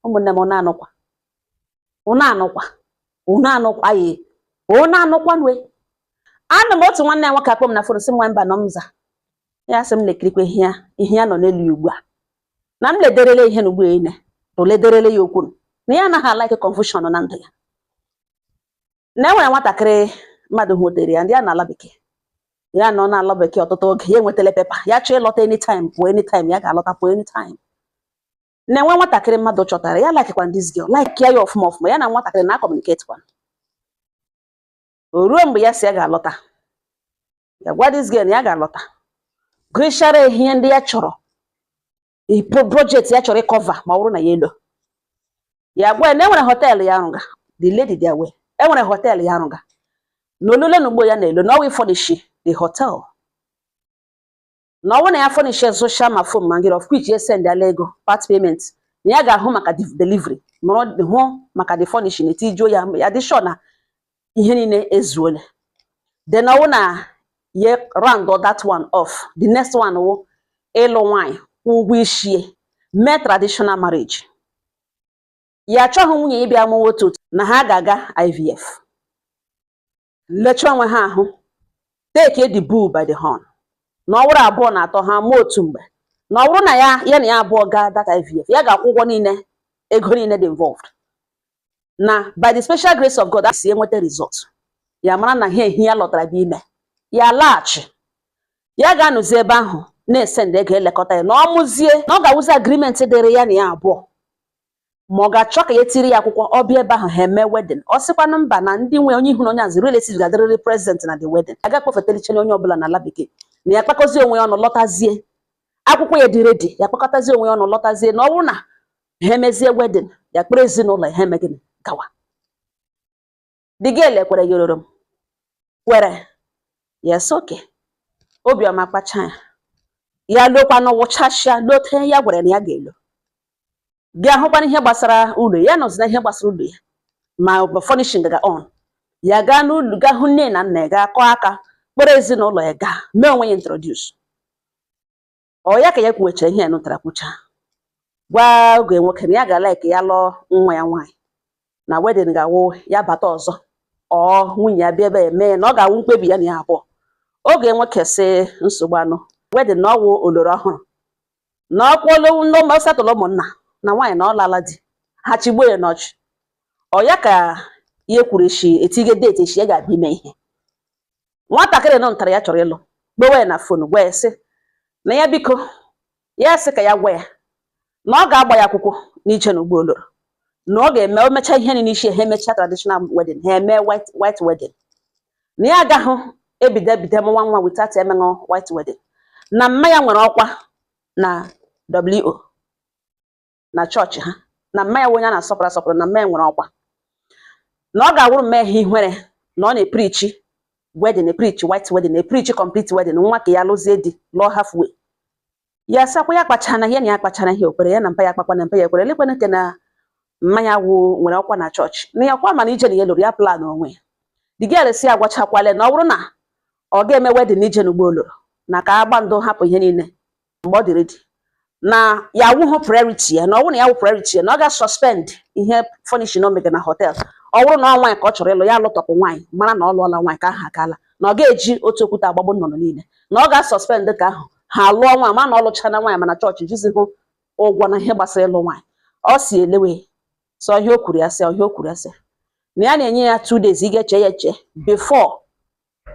ụmụnne m ụnụ anụkwa ụnụ anụkwa ụnụ anụkwa ye ụnụ anụkwa nwe ana m otu nwanne ya nwoke akpọ m na fon sị nwa Mbanọ m za ya sị m lekirikwa ihe ya ihe ya nọ n'elu ya ugbu a na m lederele ihe na ugbu a ine bụ lederele ya okwu na ya anaghị like confusion na ndụ ya na enwere nwatakịrị mmadụ hụtere ya ndị a n'ala bekee ya nọ n'ala bekee ọtụtụ oge ya enwetala paper ya chọọ ịlọta anytime pụọ anytime ya ga-alọta pụọ anytime na-enwe nwatakịrị mmadụ chọtara ya likekwa this girl like ya ya ọfụma ọfụma ya na nwatakịrị na-communicate kwa o ruo mgbe ya si ya ga-alọta ya gwa this girl na ya ga-alọta gụchara ihe ndị ya chọrọ project ya chọrọ ịcover ma ọ bụrụ na ya elo ya gwa na enwere họteelụ ya arụga the lady dị aware enwere họteelụ ya arụga na olule na ugbo ya na-elo na ọ wụ ịfurnish the hotel na ọ wụ na ya furnish soshal ma foam ma ngịrị of which ya send ala ego part payment na ya ga-ahụ maka delivery nọrọ hụ maka the furnishing etijuo ya ya dị sure na ihe niile ezuole then ọ wụ na ya round that one off the next one wụ ịlụ nwanyị kwụ ụgwọ ishie mee traditional marriage ya achọghị nwunye ịbịa mụwa otu otu na ha ga-aga IVF lecha onwe ha ahụ take the bull by the horn na ọ wụrụ abụọ na atọ ha amụọ otu mgbe na ọ bụrụ na ya na ya abụọ gaa that IVF ya ga-akwụ ụgwọ niile ego niile dị involved na by the special grace of God sị e nweta result ya mara na ihe ya lọtara bụ ime ya laghachi ya ga-anọzi ebe ahụ na-esendi ego elekọta ya na ọ mụzie na ọ ga-awụzi agreement dịrị ya na ya abụọ ma ọ ga-achọ ka ya tiri ya akwụkwọ ọ bịa ebe ahụ ha eme wedding ọ sịkwanụ mba na ndị nwe onye ihu na onye azụ relatives ga-adịrịrị present na the wedding a ga-akpọfetelichanye onye ọbụla n'ala bekee na ya kpakọzie onwe ya ọnụ lọtazie akwụkwọ ya dị ready ya kpakọtazie onwe ya ọnụ lọtazie na ọ bụrụ na ha emezie wedding ya akpọrọ ezinụlọ ya ha eme gịnị gawa the girl ekwere ya ororo m kwere yes okay obiọma kpacha ya ya lokwanụ wụchasịa lote ya gwara na ya ga-elo gaa hụkwanụ ihe gbasara ụlọ ya nọzi na ihe gbasara ụlọ ya ma ọ bụ furnishing ga on ya gaa n'ụlọ gaa hụ nne na nna ya gaa kụọ aka kpọrọ ezinụlọ ya gaa mee onwe ya introduce ọ ya ka ya kwuwechara ihe ya nụtara kwucha gwa ọgọ nwoke na ya ga like ya lụọ nwa ya nwaanyị na wedding ga-awụ ya bata ọzọ ọ nwunye ya bịa ebe ya mee na ọ ga-awụ mkpebi ya na ya abụọ ọgọ nwoke sị nsogbu adịghị wedding na ọ wụ oloro ọhụrụ na ọkwụlụ settle ụmụnna na nwaanyị na ọ lala di ha chigbuo ya n'ọchị ọ ya ka ya kwuru echi etige date echi ya ga-abịa ime ihe nwatakịrị nọ ntara ya chọrọ ịlụ gbewe na phone gwa ya sị na ya biko ya sị ka ya gwa ya na ọ ga-agba ya akwụkwọ n'iche na ụgbọ oloro na ọ ga-eme o mechaa ihe n'isi ha emechaa traditional wedding ha eme white wedding na ya agaghị ebido ebido mụwa nwa without emeṅụ white wedding na mma ya nwere ọkwa na WO na chọọchị ha na mma ya onye a na-asọpụrụ asọpụrụ na mma ya nwere ọkwa na ọ ga-awụrụ mma ya ihe ihere na ọ na-eprichi wedding eprichi white wedding eprichi complete wedding nwa ka ya lụzie di lụọ halfway ya sakwa ya kpachara na ihe na ya kpachara ihe okwere ya na mpa ya kpakwa na mpa ya ekwere elekwana nke na mma ya wụ nwere ọkwa na chọọchị na ya kwa mana ije na ya lụrụ ya plan onwe ya the girl asị agwachakwale na ọ bụrụ na ọ ga-eme wedding ije n'ugbo oloro na ka agba ndụ hapụ ihe niile mgbe ọ dị ready na ya awụghị priority ya na ọ bụrụ na ya wụ priority ya na ọ ga-suspend ihe furnishing o mega na hotel ọ bụrụ na ọ nwaanyị ka ọ chọrọ ịlụ ya lụtọpụ nwaanyị mara na ọ lụọla nwaanyị ka aha akaala na ọ ga-eji otu okwute agbagbu nnụnụ niile na ọ ga-suspend ka ahụ ha lụọ nwaanyị ma na ọ lụchaana nwaanyị mana chọọchị jizi hụ ụgwọ na ihe gbasara ịlụ nwaanyị ọ si elewe sị ọ ihe o kwuru ya sị ọ ihe o kwuru ya sị na ya na-enye ya two days ị ga-eche ya eche before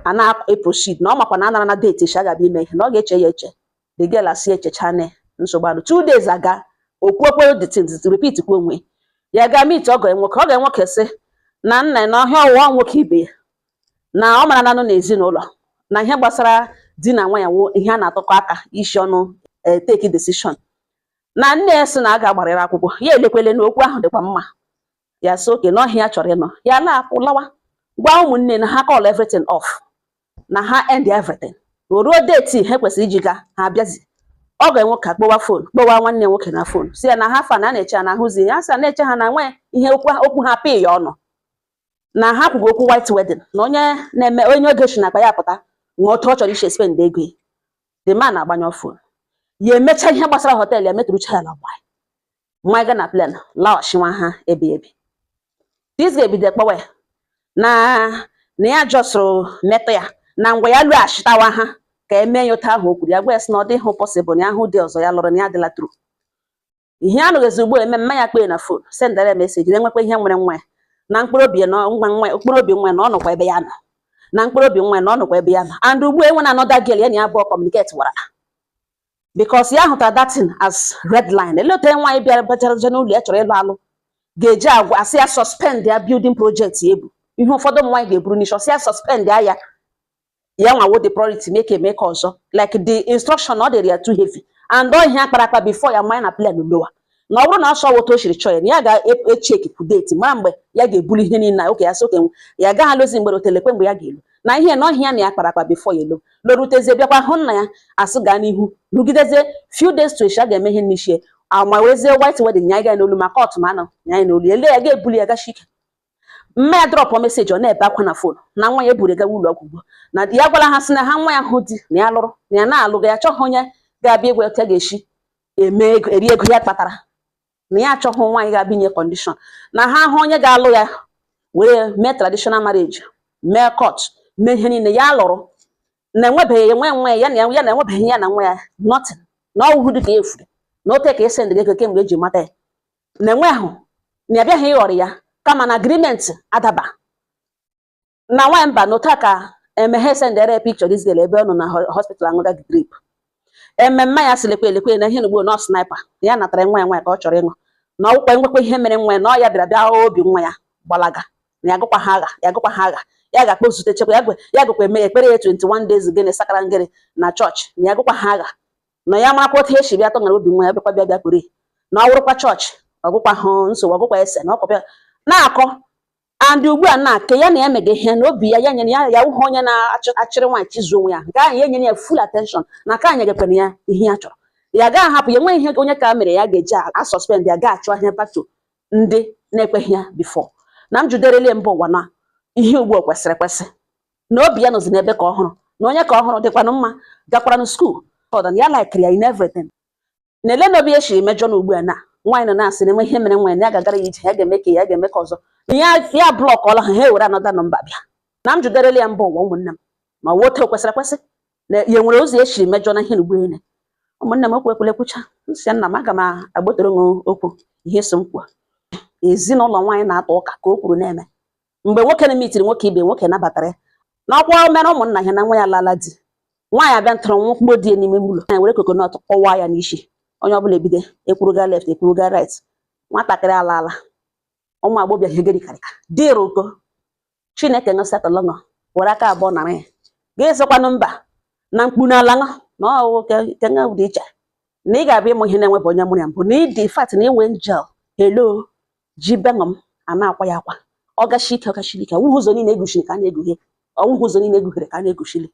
a na-eproceed na ọ makwa na anara na date echi agaba ime ihe na ọ ga-eche ya eche the girl asị echecha na nsogbu anụ two days aga okwuokwe the things repeat kwa onwe ya ga meet ọgọ ya nwoke ọgọ ya nwoke sị na nna na ọhịa ọwụwa nwoke ibe ya na ọ mara na anọ na ezinụlọ na ihe gbasara di na nwaanyị wụ ihe a na-atụkọ aka isi ọnụ eh, take decision na nne ya sị na a ga-agbarịrị akwụkwọ ya elekwele na okwu ahụ dịkwa mma ya sị okay na ọ ihe ya chọrọ ịnụ ya laapụ lawa gwa ụmụnne na ha call everything off na ha end everything o ruo date ha kwesịrị iji gaa ha abịazi ọgọ ya nwoke akpọwa phone kpọwa nwanne nwoke na phone sị ya na how far na na-eche na ahụzi ya sị na-eche ha na nwee ihe okwu ha pịị ya ọnụ na ha kwugo okwu white wedding na onye na-eme onye ego si na akpa ya pụta nwee otu ọ chọrọ isi spend ego ya the man agbanyụ phone ya emecha ihe gbasara hotel ya metụrụcha ya na gbanyị nwa ga na plane laghachi nwa ha bi ebi this girl ebido kpọwe na na ya jọsụrụ metụ ya na ngwa ya lọghachitawa ha ka eme ya otu ahụ o kwuru ya gwa ya sị na ọ dịghị possible na ya hụ di ọzọ ya lụrụ na ya adịla through ihe a nụghịzi ugbu a eme mma ya kpee na phone sendara ya message na enwekwa ihe mere nwa ya na mkpụrụ obi ya na nwa nwa ya mkpụrụ obi nwa ya na ọ nọkwa ebe ya nọ na mkpụrụ obi nwa ya na ọ nọkwa ebe ya nọ and ugbu a enweena another girl ya na ya abụọ communicate wara because ya hụtara that thing as red line ele otu nwaanyị bịara bachara n'ụlọ ya chọrọ ịlụ alụ ga-eji agwa ya sị ya suspend ya building project ebu ihe ụfọdụ ụmụ nwaanyị ga-eburu n'isi ọ sị ya suspend ya ya ya nwa wụ the priority mee ke a mee ke ọzọ like the instruction ọ dịrị ya too heavy and ọ ihe a kpara akpa before ya abanye na plane lọwa na ọ bụrụ na asọ otu o shiri chọọ ya na ya ga-echeki e, date mara mgbe ya ga-ebuli ihe niile oke ya soke ya gaghị alụzi mgbere otelekwa mgbe ya ga-elu na ihe na ọhịa na ya kpara akpa bifo ya elu lorutezie bịakwa hụ nna ya asị gaa n'ihu rugidezie few days to a ga-eme ihe n'ishi ya mewezie white wedding nya ga n'olu maka ọtụm anọ nya n'olu ele ya ga-ebuli ya gachi ike mma ya drọpụ meseji ọ na-ebe akwa na fon na nwa ya eburu gawa ụlọ ọgwụ na ya gwara ha sị na ha nwa ya hụ di na ya lụrụ na ya na-alụga ya chọghị onye ga-abịa agwa ya ga-eshi eme ego eri ego ya kpatara na ya achọghị nwaanyị ga-abịa nye kọndishọn na ha hụ onye ga-alụ ya were mee traditional marriage mee court mee ihe niile ya lụrụ na enwebeghị nwe nwe ya na ya na enwebeghị ya na nwa ya nothing na ọ wụhụ dị ka efuru na ote ka esi ndịga ego kemgbe eji mata ya na enwe ahụ na abịaghị ịghọrọ ya kama na agrimenti adaba na nwamba nụta ka emeghe sendere picture this girl ebe ọ nọ na hospital aṅụga drip e mma ya sị lekwa elekwa na ihe n'ugbo nọ sniper ya natara nwa ya nwa ya ka ọ chọrọ ịṅụ na ọ wụkwa nwekwa ihe mere nwa ya na ọ ya bịara bịa obi nwa ya gbalaga na ya gụkwa ha agha ya gụkwa ha agha ya ga-akpọ zute chekwa ya ya gụkwa eme ekpere ya 21 days gịnị sakara ngịrị na chọọchị na ya gụkwa ha agha na ya marakwa otu esi bịa tọṅara obi nwa ya bịakwa bịa bịa pụrụ na ọ wụrụkwa chọọchị ọ wụkwa hụ nsogbu ọ wụkwa ese na okwu bịa na-akọ and ugbu a na nke ya na ya mega ihe na obi ya ya nyere ya ya wụhụ onye na-achịrị nwaanyị chizu onwe ya nke ahụ ya nyere ya full attention na ka anyị gakwana ya ihe ya chọrọ ya gaa hapụ ya enweghị ihe onye ka mere ya ga-eji asọspend ya gaa achụ ahịa patu ndị na-ekweghị ya bifọ na m juderele mba ụwa na ihe ugbu o kwesịrị ekwesị na obi ya nọzi n'ebe ka ọhụrụ na onye ka ọhụrụ dịkwanụ mma gakwaranụ skuul ọdan ya laikiri ya in everything na ele na obi ya shiri mejọ na ugbu a na nwaanyị nọ na-asị na enwe ihe mere nwaanyị na ya ga-agara ya ije ya ga-eme ka ya ga-eme ka ọzọ na ya ya blọkọla ha ha ewere anọda nọmba bịa na m jụderela ya mba ụwa ụmụnne m ma wụ otu o kwesịrị ekwesị na ya nwere ụzọ ya siri mejọ na ihe na ugbu niile ụmụnne m okwu ekwele nkwucha m sị nna m aga m agbotere nwe okwu ihe so m kwuo ezinụlọ nwaanyị na-atọ ụka ka o kwuru na-eme mgbe nwoke na-emitiri nwoke ibe nwoke nabatara ya n'ọkwa mere ụmụnna ya na nwa ya lala di nwaanyị abịa ntụrụ nwa mkpụrụ di ya n'ime ụlọ anyị were kokonọt kpọwa ya n'isi onye ọbụla ebido ekwuruga left ekwuruga right nwatakịrị ala ala ụmụ agbọ bịa hegeri karịka dịrị ụkọ chineke ṅụsatọlọṅọ were aka abụọ nara ya ga-ezokwanụ mba na mkpu n'ala ṅụ na ọ wụ kenga dị iche na ị ga-abịa ịmụ ihe na-enwebụ onye mụrụ ya mbụ na ị dị fat na ị wụ angel helo ji bengọ m a na-akwa ya akwa ọ gachi ike ọ gachiri ike ọ wụghị ụzọ niile e guchiri ka a na-egughe ọ wụghị ụzọ niile e gughere ka a na-eguchiri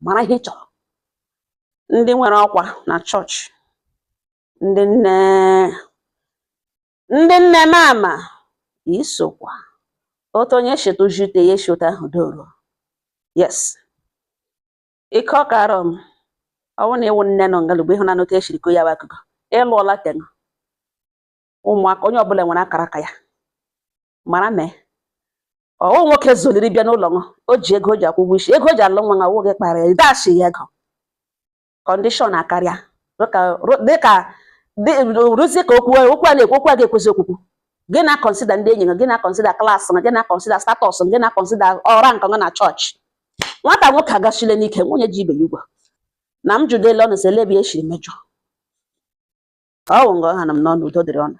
mara ihe ị chọrọ ndị nwere ọkwa na chọọchị ndị nne ndị nne mama isokwa otu onye cheta uju ite ya echeta ahụ doro yes ike ọ kara m ọ wụ na ị wụ nne nọ nga l'ugbu a ị hụna otu e shiri kọọ ya bụ akụkọ ị lụọla tenụ ụmụaka onye ọbụla nwere akara aka ya mara na ọ wụ nwoke zoliri bịa n'ụlọ nwa o ji ego o ji akwụ ụgwọ isi ego o ji alụ nwa na ọ wụ gị kpara ya dash ya ego condition akarịa dịka rụzie ka okwu okwu a na-ekwu okwu a ga-ekwezi okwukwu gị na-akọnsida ndị enyi gị na-akọnsida class gị na-akọnsida status gị na-akọnsida rank gị na chọọchị nwata nwoke agachile n'ike nwunye ji ibe ya ugwu na m jụdele ọnụ sị lee ebe e shiri mejọ ọ wụ nga ọ hanụ m n'ọnụ udo dịrị unu